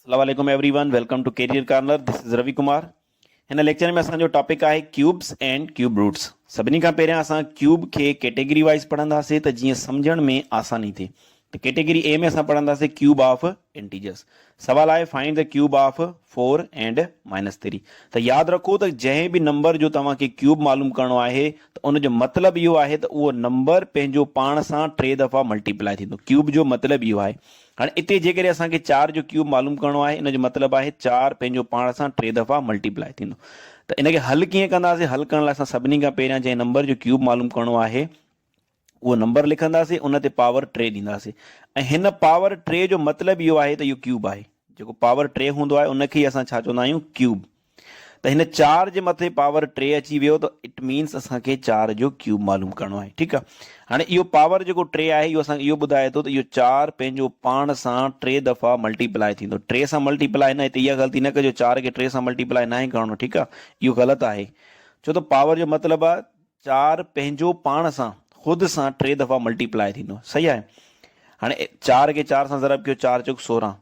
اسلام عليڪم everyone welcome to career corner this is Ravi Kumar هن ليڪچر ۾ اسان جو ٽاپڪ آهي ڪيوبس اينڊ ڪيوب روٽس سڀني کان پهريان اسان ڪيوب کي ڪيٽيگري وائز پڙهنداسي ته جيئن سمجھڻ ۾ آساني ٿئي ته ڪيٽيگري اي ۾ اسان پڙهنداسي ڪيوب آف انٽيجرس سوال آهي فائنڊ ته ڪيوب آف 4 اينڊ مائنس 3 ته ياد رکو ته جنهن به نمبر جو توهان کي ڪيوب معلوم ڪرڻو آهي ته ان جو مطلب اهو آهي ته اهو نمبر پنهنجو پاڻ سان ٽي دفعا ملٽيپلائي ٿيندو ڪيوب جو مطلب اهو آهي هاڻي اتي جيڪڏهن اسان کي چار جو ڪيوب معلوم ڪرڻو آهي ان جو مطلب آهي چار پنهنجو پاڻ سان ٽي دفعا ملٽي پلائي ٿيندو ته ان کي حل ڪيئن ڪنداسين حل ڪرڻ لاء اسان سڀني کان پهريان جنهن نمبر جو ڪيوب معلوم ڪرڻو آهي اهو نمبر لکنداسين ان تي پاور ٽي ڏينداسين ۽ هن پاور ٽي جو مطلب اهو آهي ته اهو ڪيوب آهي جيڪو پاور ٽي هوندو آهي ان کي ئي اسان ڇا چوندا آهيون ڪيوب ته هن چار جي مٿي پاور ٽي اچي ويو ته اٽ مينس اسان کي چار جو ڪيوب معلوم ڪرڻو آهي ٺيڪ آهي هاڻي اهو پاور جيڪو ٽي آهي اهو اسان کي اهو ٻڌائي ٿو ته اهو چار پنهنجو پاڻ سان ٽي دفعا ملٽي پلائي ٿيندو ٽي سان ملٽي پلائي نه هتي اها غلطي نه ڪجو چار کي ٽي سان ملٽي پلائي ناهي ڪرڻو ٺيڪ آهي اهو غلط آهي ڇو ته پاور جو مطلب آهي چار پنهنجو پاڻ سان خود سان ٽي دفعا ملٽي پلائي ٿيندو صحيح آهي هاڻي چار کي چار سان ضرب ڪيو چار چوڪ سورهن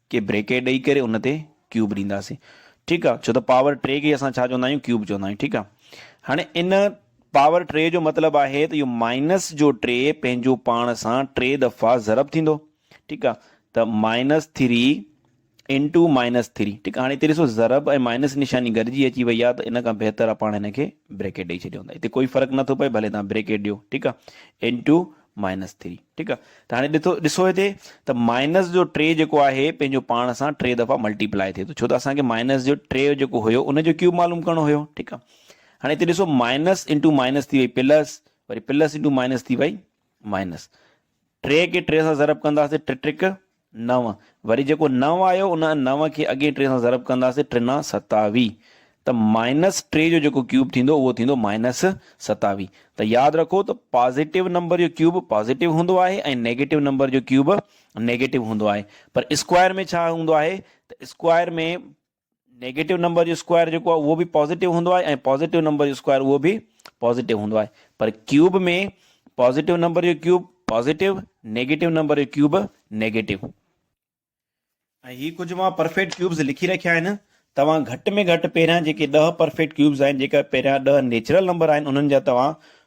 کي بريڪيٽ ڏئي ڪري ان تي ڪيوب ڏينداسين ٺيڪ آ ڇو ته پاور ٽي کي اسان ڇا چوندا آهيون ڪيوب چوندا آهيون ٺيڪ آ هاڻي ان پاور ٽي جو مطلب آهي ته اهو مائنس جو ٽي پنهنجو پاڻ سان ٽي دفعا ضرب ٿيندو ٺيڪ آ ته minus three into minus three ٺيڪ آ هاڻي هتي ڏسو ضرب ۽ مائنس نشاني گڏجي اچي وئي آ ته ان کان بهتر آ پاڻ هن کي بريڪيٽ ڏئي ڇڏيون ته هتي ڪوئي فرق نه ٿو پئي ڀلي توهان بريڪيٽ ڏيو ٺيڪ آ انٽو مائنس ٿري ٺيڪ آ ته هاڻي ڏٺو ڏسو هتي ته مائنس جو ٽي جيڪو آهي پنهنجو پاڻ سان ٽي دفعا ملٽي پلائي ٿئي ٿو ڇو ته اسان کي مائنس جو ٽي جيڪو هيو ان جو ڪيوب معلوم ڪرڻو هيو ٺيڪ آ هاڻي هتي ڏسو مائنس انٽو مائنس ٿي وئي پلس وري پلس انٽو مائنس ٿي وئي مائنس ٽي کي ٽي سان ضرب ڪنداسين ٽي ٽيڪ نو، وري جيڪو نو آيو ان نو کي اڳين ٽي سان ضرب ڪنداسين، ٽنا ستاوي، ته مائنس ٽي جو جيڪو ڪيوب ٿيندو اهو ٿيندو مائنس ستاوي، ته ياد رکو ته پازيٽو نمبر جو ڪيوب پازيٽو هوندو آهي ۽ نيگيٽو نمبر جو ڪيوب نيگيٽو هوندو آهي، پر اسڪوائر ۾ ڇا هوندو آهي ته اسڪوائر ۾ نيگيٽو نمبر جو اسڪوائر جيڪو آهي اهو به پازيٽو هوندو آهي ۽ پازيٽو نمبر جو اسڪوائر اهو به پازيٽو هوندو آهي پر ڪيوب ۾ پازيٽو نمبر جو ڪيوب پازيٽو نيگيٽو نمبر جو ڪيوب نيگيٽو ۽ هي ڪجهه مان پرفيڪٽ ڪيوبز لکي رکيا آهن توهان گهٽ ۾ گهٽ پهريان جيڪي ڏهه پرفيڪٽ ڪيوبز آهن جيڪا پهريان ڏهه نيچرل نمبر آهن انهن جا توهان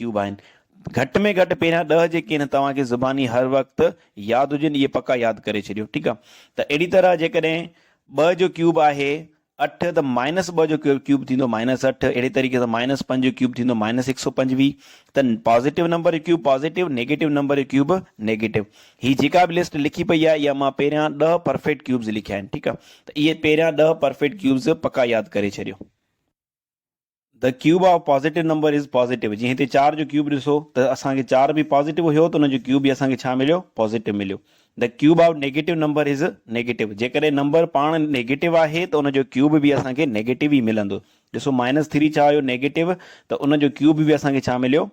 ڪيوب آهن. گهٽ ۾ گهٽ پهريان ڏهه جيڪي آهن توهان کي زباني هر وقت ياد هجن اهي پڪا ياد ڪري ڇڏيو ٺيڪ آ ته اهڙي طرح جيڪڏهن ٻه جو ڪيوب آهي اٺ ته مائنس ٻه جو ڪيوب ٿيندو مائنس اٺ اهڙي طريقي سان مائنس پنج جو ڪيوب ٿيندو مائنس هڪ سؤ پنجويهه ته پازيٽو نمبر جو ڪيوب پازيٽو نيگيٽو نمبر جو ڪيوب نيگيٽو هي جيڪا به لسٽ لکي پئي آهي اها مان پهريان ڏهه پرفيڪٽ ڪيوبز لکيا آهن ٺيڪ آ ته اهي پهريان ڏهه پرفيڪٽ ڪيوبز پڪا ياد ڪري ڇڏيو. The cube of positive number is positive جيئن هتي چار جو ڪيوب ڏسو ته اسان کي چار به پازيٽو هيو ته ان جو ڪيوب به اسان کي ڇا مليو پازيٽو مليو The cube of negative number is negative جيڪڏهن نمبر پاڻ نيگيٽو آهي ته ان جو ڪيوب به اسان کي نيگيٽو ئي ملندو ڏسو مائنس ٿري ڇا هيو نيگيٽو ته ان جو ڪيوب به اسان کي ڇا مليو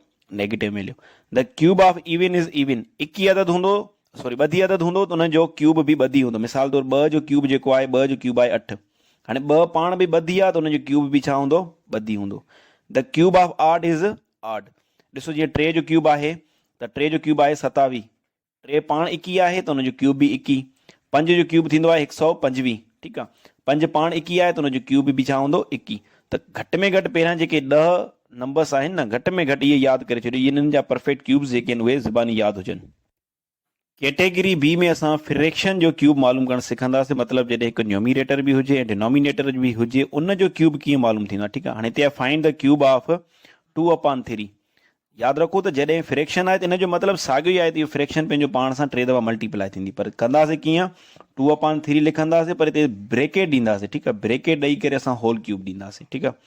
نيگيٽو مليو The cube of even is even اڪي عدد هوندو سوري ٻڌي عدد هوندو ته ان جو ڪيوب به ٻڌي هوندو مثال طور ٻه جو ڪيوب جيڪو آهي ٻه جو ڪيوب آهي اٺ هاڻي ٻه پاڻ به ٻڌي آهي ته ان جو ڪيوب به ڇا هوندو ٻڌي هوندو The cube of odd is odd ڏسو جيئن ٽي جو ڪيوب آهي ته ٽي جو ڪيوب آهي ستاويهه ٽي پاڻ ايڪيهه آهي ته ان جو ڪيوب به ايڪيهه پنج جو ڪيوب ٿيندو آهي هڪ سؤ پنجويهه ٺيڪ آهي پنج پاڻ ايڪيهه آهي ته ان جو ڪيوب به ڇا هوندو ايڪيهه ته گهٽ ۾ گهٽ پهريان جيڪي ڏهه نمبرس آهن نه گهٽ ۾ گهٽ اهي ياد ڪري ڇڏيو انهن جا پرفيڪٽ ڪيوبس جيڪي آهن اهي زباني ياد هجن ڪيٽيگري بي ۾ اسان فريڪشن جو ڪيوب معلوم ڪرڻ سکنداسين مطلب جڏهن هڪ نيوميريٽر به هجي ۽ ڊينومينيٽر به هجي ان جو ڪيوب ڪيئن معلوم ٿيندو آهي ٺيڪ آهي هاڻي هتي آهي find the cube of two upon three ياد رکو ته جڏهن فريڪشن آهي ته ان جو مطلب ساڳيو ئي آهي ته اهو فريڪشن پنهنجو پاڻ سان ٽي دفعا ملٽيپلائي ٿيندي پر ڪنداسين ڪيئن ٽو اپان ٿري لکنداسين پر هتي بريڪيٽ ڏينداسين ٺيڪ آهي بريڪيٽ ڏئي ڪري اسان هول ڪيوب ڏينداسين ٺيڪ آهي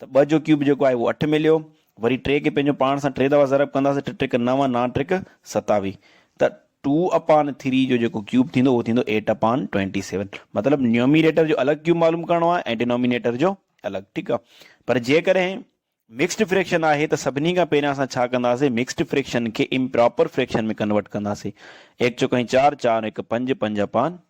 ته ٻه جو ڪيوب جيڪو آهي اهو اٺ مليو، وري ٽي کي پنهنجو پاڻ سان ٽي دفعا ضرب ڪنداسين ٽي ٽريڪ نو نان ٽريڪ ستاويهه ته ٽو اپان ٿري جو جيڪو ڪيوب ٿيندو اهو ٿيندو ايٽ اپان ٽوئنٽي سيون مطلب نيوميريٽر جو الڳ ڪيوب معلوم ڪرڻو آهي ۽ ڊينومينيٽر جو الڳ ٺيڪ آهي پر جيڪڏهن مڪسڊ فريڪشن آهي ته سڀني کان پهريان اسان ڇا ڪنداسين مڪسڊ فريڪشن کي امپراپر فريڪشن ۾ ڪنورٽ ڪنداسين ايڪ چوڪائين چار چار هڪ پنج پنج اپان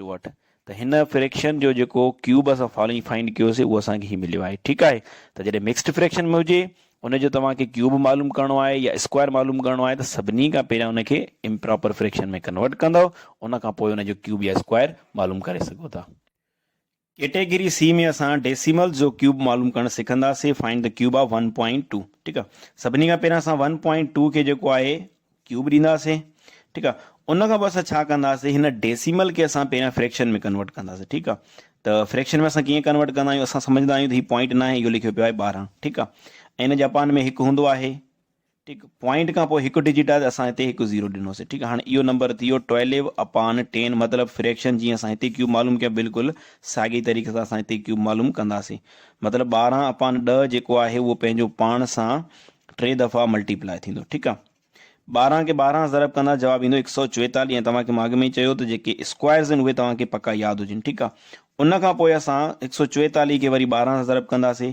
چووٺ ته هن فريڪشن جو جيڪو ڪيوب اسان فالوئنگ فائنڊ ڪيو سي اهو اسان کي هي مليو آهي ٺيڪ آهي ته جڏهن مڪسڊ فريڪشن ۾ هجي ان جو توهان کي ڪيوب معلوم ڪرڻو آهي يا اسڪوائر معلوم ڪرڻو آهي ته سڀني کان پهريان ان کي امپراپر فريڪشن ۾ ڪنورٽ ڪندو ان کان پوء ان جو ڪيوب يا اسڪوائر معلوم ڪري سگهو ٿا. ڪيٽيگري سي ۾ اسان ڊيسيملز جو ڪيوب معلوم ڪرڻ سکنداسين find the cube of one point two ٺيڪ آ سڀني کان پهريان اسان ون پوائنٽ ٽو کي جيڪو آهي ڪيوب ڏينداسين ٺيڪ آ ان کان پوء اسان ڇا ڪنداسين هن ڊيسيمل کي اسان پهريان فريڪشن ۾ ڪنورٽ ڪنداسين ٺيڪ آ ته فريڪشن ۾ اسان ڪيئن ڪنورٽ ڪندا آهيون اسان سمجهندا آهيون ته هي پوائنٽ ناهي اهو لکيو پيو آهي ٻارهن ٺيڪ آ ۽ هن جاپان ۾ هڪ هوندو آهي ٺيڪ پوائنٽ کان پوء هڪ ڊجٽ آهي ته اسان هتي هڪ زيرو ڏنوسي ٺيڪ هاڻي اهو نمبر ٿي ويو ٽوئليو اپان ٽين مطلب فريڪشن جيئن اسان هتي ڪيوب معلوم ڪيو بلڪل ساڳي طريقي سان اسان هتي ڪيوب معلوم ڪنداسي مطلب ٻارهن اپان ڏهه جيڪو آهي اهو پنهنجو پاڻ سان ٽي دفعا ملٽي پلائي ٿيندو ٺيڪ آهي ٻارهن کي ٻارهن ضرب ڪندا جواب ايندو هڪ سؤ چويتاليهه ۽ توهان کي مان اڳ ۾ ئي چيو ته جيڪي اسڪوائرز آهن اهي توهان کي پڪا ياد هجن ٺيڪ آهي ان کان پوء اسان هڪ سؤ چويتاليهه کي وري ٻارهن سان ضرب ڪنداسي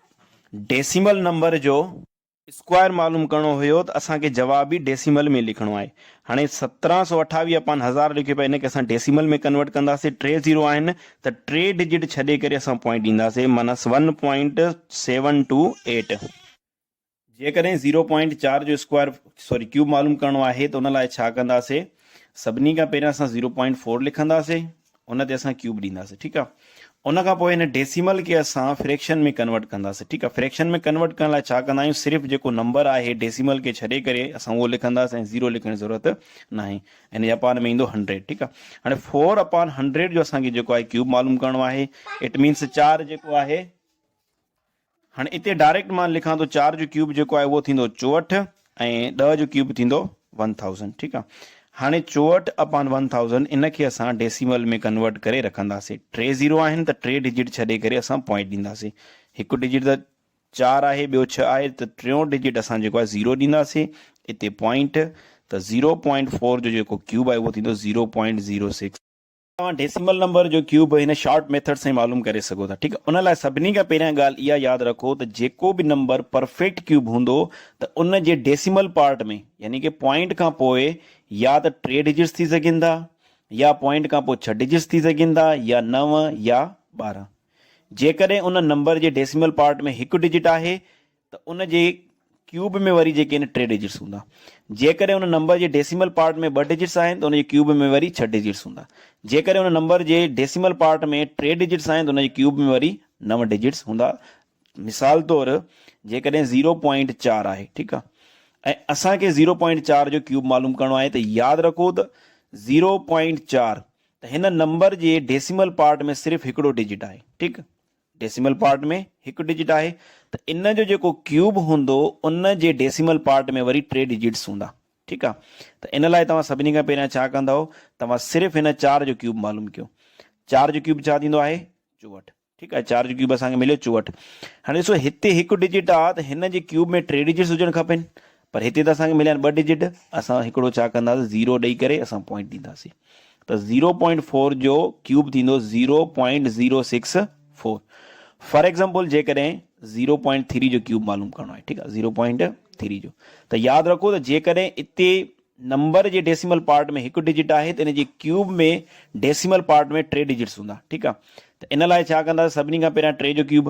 ڊيسيمل نمبر جو اسڪوائر معلوم ڪرڻو هيو ته اسان کي جواب به ڊيسيمل ۾ لکڻو آهي هاڻي سترهن سؤ اٺاويهه اپان هزار لکيو پيو ان کي اسان ڊيسيمل ۾ ڪنورٽ ڪنداسي ٽي زيرو آهن ته ٽي ڊجٽ ڇڏي ڪري اسان پوائنٽ ڏينداسي minus one point seven two eight. جيڪڏهن زيرو پوائنٽ چار جو اسڪوائر سوري ڪيوب معلوم ڪرڻو آهي ته ان لاء ڇا ڪنداسي سڀني کان پهريان اسان زيرو پوائنٽ فور لکنداسي ان تي اسان ڪيوب ڏينداسي ٺيڪ آ ان کان پوء هن ڊيسيمل کي اسان فريڪشن ۾ ڪنورٽ ڪنداسي ٺيڪ آ فريڪشن ۾ ڪنورٽ ڪرڻ لاء ڇا ڪندا آهيون صرف جيڪو نمبر آهي ڊيسيمل کي ڇڏي ڪري اسان اهو لکنداسي ۽ زيرو لکڻ جي ضرورت نه آهي ان جي اپان ۾ ايندو هنڊريڊ ٺيڪ آ هاڻي فور اپان هنڊريڊ جو اسان کي جيڪو آهي ڪيوب معلوم ڪرڻو آهي اٽ مينس چار جيڪو آهي هاڻي اتي ڊائريڪٽ مان لکان ٿو چار جو ڪيوب جيڪو آهي اهو ٿيندو چوهٺ ۽ ڏهه جو ڪيوب ٿيندو ون ٿائوزنڊ ٺيڪ آهي هاڻي چوهٺ اپان ون ٿائوزنڊ ان کي اسان ڊيسيمل ۾ ڪنورٽ ڪري رکنداسين ٽي زيرو آهن ته ٽي ڊجيٽ ڇڏي ڪري اسان پوائنٽ ڏينداسين هڪ ڊجيٽ ته چار آهي ٻيو ڇهه آهي ته ٽيون ڊجيٽ اسان جيڪو آهي زيرو ڏينداسين اتي پوائنٽ ته زيرو پوائنٽ فور جو جيڪو ڪيوب آهي اهو ٿيندو زيرو پوائنٽ زيرو سڪس توهان ڊيسيمل نمبر جو ڪيوب هن شارٽ ميٿڊ سان ئي معلوم ڪري سگهو ٿا ٺيڪ ان لاء سڀني کان پهريان ڳالهه اها ياد رکو ته جيڪو به نمبر پرفيڪٽ ڪيوب هوندو ته ان جي ڊيسيمل پارٽ ۾ يعني ڪي پوائنٽ کان پوء يا ته ٽي ڊجٽس ٿي سگهن ٿا يا پوائنٽ کان پوء ڇهه ڊجٽس ٿي سگهن ٿا يا نو يا ٻارهن جيڪڏهن ان نمبر جي ڊيسيمل پارٽ ۾ هڪ ڊجٽ آهي ته ان جي ڪيوب ۾ وري جيڪي آهن ٽي ڊجٽس هوندا. جيڪڏهن ان نمبر جي ڊيسيمل پارٽ ۾ ٻه ڊجٽس آهن ته ان جي ڪيوب ۾ وري ڇهه ڊجٽس هوندا. جيڪڏهن ان نمبر جي ڊيسيمل پارٽ ۾ ٽي ڊجٽس آهن ته ان جي ڪيوب ۾ وري نو ڊجٽس هوندا. مثال طور جيڪڏهن زيرو پوائنٽ چار آهي ٺيڪ آهي ۽ اسان کي زيرو پوائنٽ چار جو ڪيوب معلوم ڪرڻو آهي ته ياد رکو ته زيرو پوائنٽ چار ته هن نمبر جي ڊيسيمل پارٽ ۾ صرف هڪڙو ڊجٽ آهي ٺيڪ. ڊيسيمل پارٽ ۾ هڪ ڊجٽ آهي ته ان جو جيڪو ڪيوب هوندو ان جي ڊيسيمل پارٽ ۾ وري ٽي ڊجٽس هوندا ٺيڪ آ ته ان لاء توهان سڀني کان پهريان ڇا ڪندؤ توهان صرف هن چار جو ڪيوب معلوم ڪيو چار جو ڪيوب ڇا ٿيندو آهي چوهٺ ٺيڪ آ چار جو ڪيوب اسان کي مليو چوهٺ هاڻي ڏسو هتي هڪ ڊجٽ آ ته هن جي ڪيوب ۾ ٽي ڊجٽس هجڻ کپين پر هتي ته اسان کي مليا آهن ٻه ڊجٽ اسان هڪڙو ڇا ڪنداسين زيرو ڏئي ڪري اسان پوائنٽ ڏينداسين ته زيرو پوائنٽ فور جو ڪيوب ٿيندو zero point zero six four for example جيڪڏهن زيرو پوائنٽ ٿري جو ڪيوب معلوم ڪرڻو آهي ٺيڪ آهي زيرو پوائنٽ ٿري جو ته ياد رکو ته جيڪڏهن اتي نمبر جي ڊيسيمل پارٽ ۾ هڪ ڊجٽ آهي ته ان جي ڪيوب ۾ ڊيسيمل پارٽ ۾ ٽي ڊجٽس هوندا ٺيڪ آهي ته ان لاء ڇا ڪنداسين سڀني کان پهريان ٽي جو ڪيوب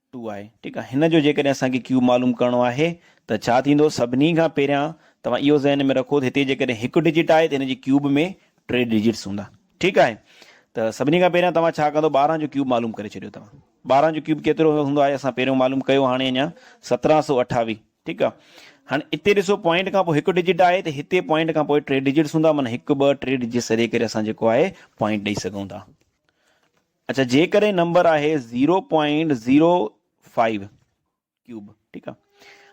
ٽو آهي ٺيڪ آهي هن جو جيڪڏهن اسان کي ڪيوب معلوم ڪرڻو آهي ته ڇا ٿيندو سڀني کان پهريان توهان اهو ذهن ۾ رکو ته هتي جيڪڏهن هڪ ڊجٽ آهي ته هن جي ڪيوب ۾ ٽي ڊجٽس هوندا ٺيڪ آهي ته سڀني کان پهريان توهان ڇا ڪندو ٻارهن جو ڪيوب معلوم ڪري ڇڏيو توهان ٻارهن جو ڪيوب ڪيترو هوندو آهي اسان پهريون معلوم ڪيو هاڻي اڃا سترهن سو اٺاويهه ٺيڪ آهي هاڻي اتي ڏسو پوائنٽ کان پوء هڪ ڊجٽ آهي ته هتي پوائنٽ کان پوء ٽي ڊجٽس هوندا معنيٰ هڪ ٻه ٽي ڊجٽس سڏي ڪري اسان جيڪو آهي پوائنٽ ڏئي سگهون ٿا اڇا جيڪڏهن نمبر آهي zero point zero five cube ٺيڪ آ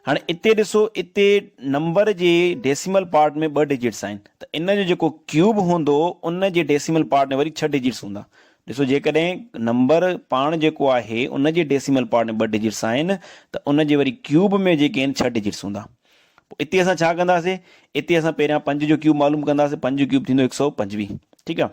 هاڻي اتي ڏسو اتي نمبر جي ڊيسيمل پارٽ ۾ ٻه ڊجيٽس آهن ته ان جو جيڪو ڪيوب هوندو ان جي ڊيسيمل پارٽ ۾ وري ڇهه ڊجيٽس هوندا ڏسو جيڪڏهن نمبر پاڻ جيڪو آهي ان جي ڊيسيمل پارٽ ۾ ٻه ڊجيٽس آهن ته ان جي وري ڪيوب ۾ جيڪي آهن ڇهه ڊجيٽس هوندا پوء اتي اسان ڇا ڪنداسي اتي اسان پهريان پنج جو ڪيوب معلوم ڪنداسي پنج جو ڪيوب ٿيندو هڪ سؤ پنجويهه ٺيڪ آ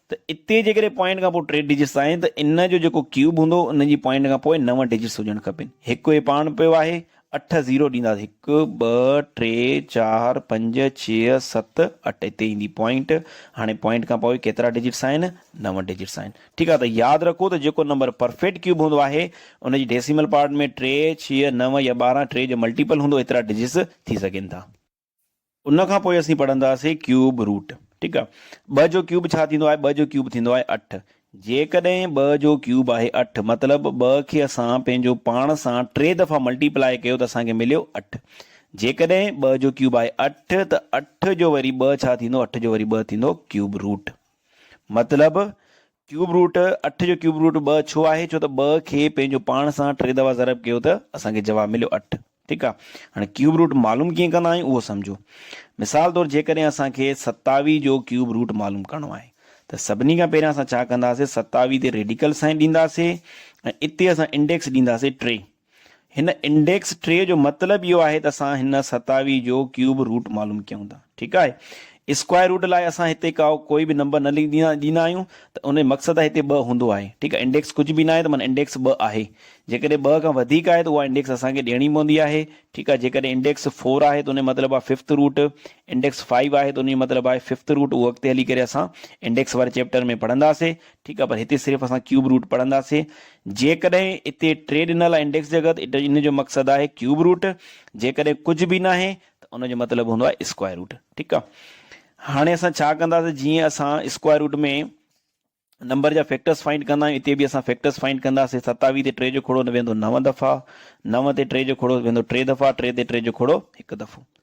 ته اتي جيڪڏهن پوائنٽ کان پوء ٽي ڊجٽس آهن ته ان جو جيڪو ڪيوب هوندو ان جي پوائنٽ کان پوء نو ڊجٽس هجڻ کپين. هڪ هي پاڻ پيو آهي اٺ زيرو ڏينداس هڪ ٻه ٽي چار پنج ڇهه ست اٺ اتي ايندي پوائنٽ هاڻي پوائنٽ کان پوء ڪيترا ڊجٽس آهن نو ڊجٽس آهن ٺيڪ آهي ته ياد رکو ته جيڪو نمبر پرفيڪٽ ڪيوب هوندو آهي ان جي ڊيسيمل پارٽ ۾ ٽي ڇهه نو يا ٻارهن ٽي جو ملٽيپل هوندو ايترا ڊجٽس ٿي سگهن ٿا. ان کان پوء اسين پڙهنداسين ڪيوب روٽ ٺيڪ آ ٻه جو ڪيوب ڇا ٿيندو آهي ٻه جو ڪيوب ٿيندو آهي اٺ جيڪڏهن ٻه جو ڪيوب آهي اٺ مطلب ٻه کي اسان پنهنجو پاڻ سان ٽي دفعا ملٽي پلائي ڪيو ته اسان کي مليو اٺ جيڪڏهن ٻه جو ڪيوب آهي اٺ ته اٺ جو وري ٻه ڇا ٿيندو اٺ جو وري ٻه ٿيندو ڪيوب روٽ مطلب ڪيوب روٽ اٺ جو ڪيوب روٽ ٻه ڇو آهي؟ ڇو ته ٻه کي پنهنجو پاڻ سان ٽي دفعا ضرب ڪيو ته اسان کي جواب مليو اٺ. ٺيڪ آهي. هاڻي ڪيوب روٽ معلوم ڪيئن ڪندا آهيون اهو سمجهو. مثال طور جيڪڏهن اسان کي ستاوي جو ڪيوب روٽ معلوم ڪرڻو آهي ته سڀني کان پهريان اسان ڇا ڪنداسين ستاوي تي ريڊيڪل سائين ڏينداسين ۽ اتي اسان انڊيڪس ڏينداسين ٽي. هن انڊيڪس ٽي جو مطلب اهو آهي ته اسان هن ستاوي جو ڪيوب روٽ معلوم ڪيون ٿا. ٺيڪ آهي. اسڪوائر روٽ لاء اسان هتي ڪا ڪوئي به نمبر نه ڏيندا آهيون ته ان جو مقصد آهي هتي ٻه هوندو آهي. ٺيڪ آهي. انڊيڪس ڪجهه به ناهي ته معنيٰ انڊيڪس ٻه آهي. جيڪڏهن ٻه کان وڌيڪ آهي ته اها انڊيڪس اسان کي ڏيڻي پوندي آهي. ٺيڪ آهي. جيڪڏهن انڊيڪس فور آهي ته ان جو مطلب آهي ففٿ روٽ. انڊيڪس فائيو آهي ته ان جو مطلب آهي ففٿ روٽ. اهو اڳتي هلي ڪري اسان انڊيڪس واري چيپٽر ۾ پڙهنداسي. ٺيڪ آ پر هتي صرف اسان ڪيوب روٽ پڙهنداسين جيڪڏهن اتي ٽي ڏنل آ انڊيڪس جي اڳت ان جو مقصد آهي ڪيوب روٽ جيڪڏهن ڪجهه به ناهي ته ان جو مطلب هوندو آهي اسڪوائر روٽ ٺيڪ آ هاڻي اسان ڇا ڪنداسين جيئن اسان اسڪوائر روٽ ۾ نمبر جا فيڪٽرس فائنڊ ڪندا آهيون اتي به اسان فيڪٽرس فائنڊ ڪنداسين ستاويهه تي ٽي جو کڙو ويندو نو دفعا نو تي ٽي جو کڙو ويندو ٽي دفعا ٽي تي ٽي جو کڙو هڪ دفعو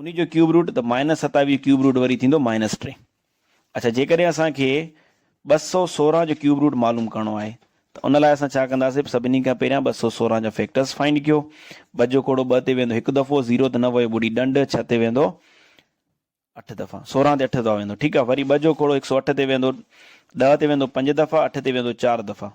انهي جو ڪيوب روٽ ته مائنس ستاويهه ڪيوب روٽ وري ٿيندو مائنس ٽي. اڇا جيڪڏهن اسان کي ٻه سؤ سورهن جو ڪيوب روٽ معلوم ڪرڻو آهي ته ان لاء اسان ڇا ڪنداسين سڀني کان پهريان ٻه سؤ سورهن جا فيڪٽرز فائنڊ ڪيو ٻه جو کوڙو ٻه تي ويندو هڪ دفعو زيرو تي نه ويو ٻوڏي ڏنڊ ڇهه تي ويندو اٺ دفعا سورهن تي اٺ دفعا ويندو ٺيڪ آهي وري ٻه جو کوڙو هڪ سؤ اٺ تي ويندو ڏهه تي ويندو پنج دفعا اٺ تي ويندو چار دفعا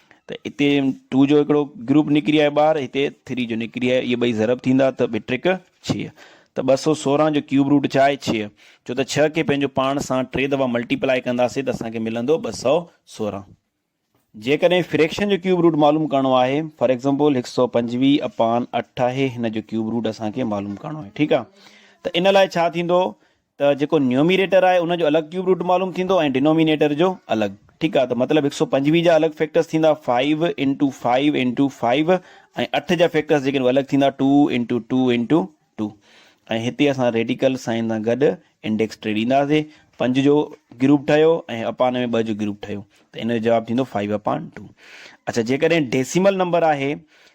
ته اتي ٽو جو هڪڙو گروپ نڪري آهي ٻار هتي ٿري جو نڪري آهي اهي ٻئي ضرب ٿيندا ته ٻه ٽريڪ ڇهه ته ٻه سو سورهن جو ڪيوب روٽ ڇا آهي ڇهه ڇو ته ڇهه کي پنهنجو پاڻ سان ٽي دفعا ملٽيپلائي ڪنداسين ته اسان کي ملندو ٻه سو سورهن جيڪڏهن فريڪشن جو ڪيوب روٽ معلوم ڪرڻو آهي فار ايگزامپل هڪ سو پنجويهه اپان اٺ آهي هن جو ڪيوب روٽ اسان کي معلوم ڪرڻو آهي ٺيڪ آهي ته ان لاء ڇا ٿيندو ته جيڪو نيوميريٽر آهي ان جو الڳ ڪيوب روٽ معلوم ٿيندو ۽ ڊينومينيٽر جو الڳ ٺيڪ آهي ته مطلب هڪ سؤ پنجويهه جا الڳ فيڪٽرس ٿيندا five into five into five ۽ اٺ جا فيڪٽرس جيڪي هو الڳ ٿيندا two into two into two ۽ هتي اسان ريڊيڪل سائن سان گڏ انڊيڪس ٽي ڏينداسي پنج جو گروپ ٺهيو ۽ اپان ۾ ٻه جو گروپ ٺهيو ته ان جو جواب ٿيندو فائيو اپان ٽو اچا جيڪڏهن ڊيسيمل نمبر آهي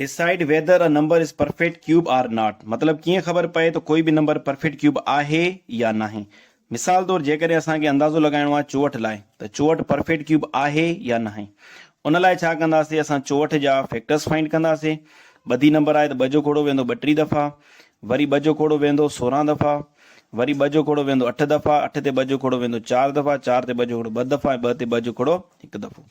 Decide whether a number is perfect cube or not مطلب ڪيئن خبر پئي ته ڪوئي به نمبر پرفيڪٽ ڪيوب آهي يا ناهي. مثال طور جيڪڏهن اسان کي اندازو لڳائڻو آهي چوهٺ لاء ته چوهٺ پرفيڪٽ ڪيوب آهي يا ناهي. ان لاء ڇا ڪنداسين اسان چوهٺ جا فيڪٽرز فائنڊ ڪنداسين. ٻڌي نمبر آهي ته ٻه جو کوڙو ويندو ٻٽيهه دفعا، وري ٻه جو کوڙو ويندو سورهن دفعا، وري ٻه جو کوڙو ويندو اٺ دفعا، اٺ تي ٻه جو کوڙو ويندو چار دفعا، چار تي ٻه جو کوڙو ٻه دفعا ۽ ٻه تي ٻه جو کوڙو هڪ دفعو.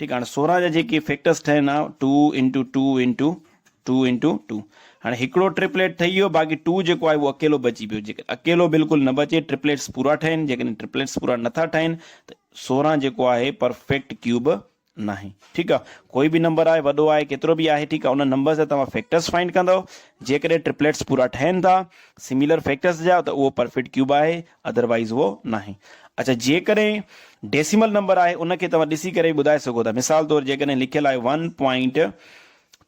ٺيڪ آ هاڻي سورهن جا جيڪي فيڪٽرس ٺهن ها two into two into two into two هاڻي هڪڙو ٽرپليٽ ٺهي ويو باقي ٽو جيڪو آهي اهو اڪيلو بچي پيو جيڪڏهن اڪيلو بلڪل نه بچي ٽرپليٽس پورا ٺهن جيڪڏهن ٽرپليٽس پورا نٿا ٺهن ته سورهن جيڪو آهي پرفيڪٽ ڪيوب ناهي ٺيڪ آ ڪوئي به نمبر آهي وڏو آهي ڪيترو به آهي ٺيڪ آ ان نمبر جا توهان فيڪٽرس فائنڊ ڪندو جيڪڏهن ٽرپليٽس پورا ٺهن ٿا سميلر فيڪٽرس جا ته اهو پرفيڪٽ ڪيوب آهي ادر وائيز اهو ناهي. اڇا جيڪڏهن ڊيسيمل نمبر آهي ان کي توهان ڏسي ڪري به ٻڌائي سگهو ٿا مثال طور جيڪڏهن لکيل آهي ون پوائنٽ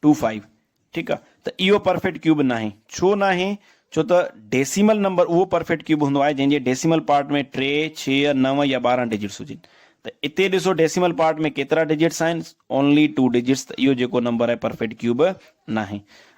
ٽو فائيو ٺيڪ آ ته اهو پرفيٽ ڪيوب ناهي ڇو ناهي ڇو ته ڊيسيمل نمبر اهو پرفيٽ ڪيوب هوندو آهي جنهن جي ڊيسيمل پارٽ ۾ ٽي ڇهه نو يا ٻارهن ڊجٽس هجن ته اتي ڏسو ڊيسيمل پارٽ ۾ ڪيترا ڊجٽس آهن اونلي ٽو ڊجٽس ته اهو جيڪو نمبر آهي پرفيٽ ڪيوب ناهي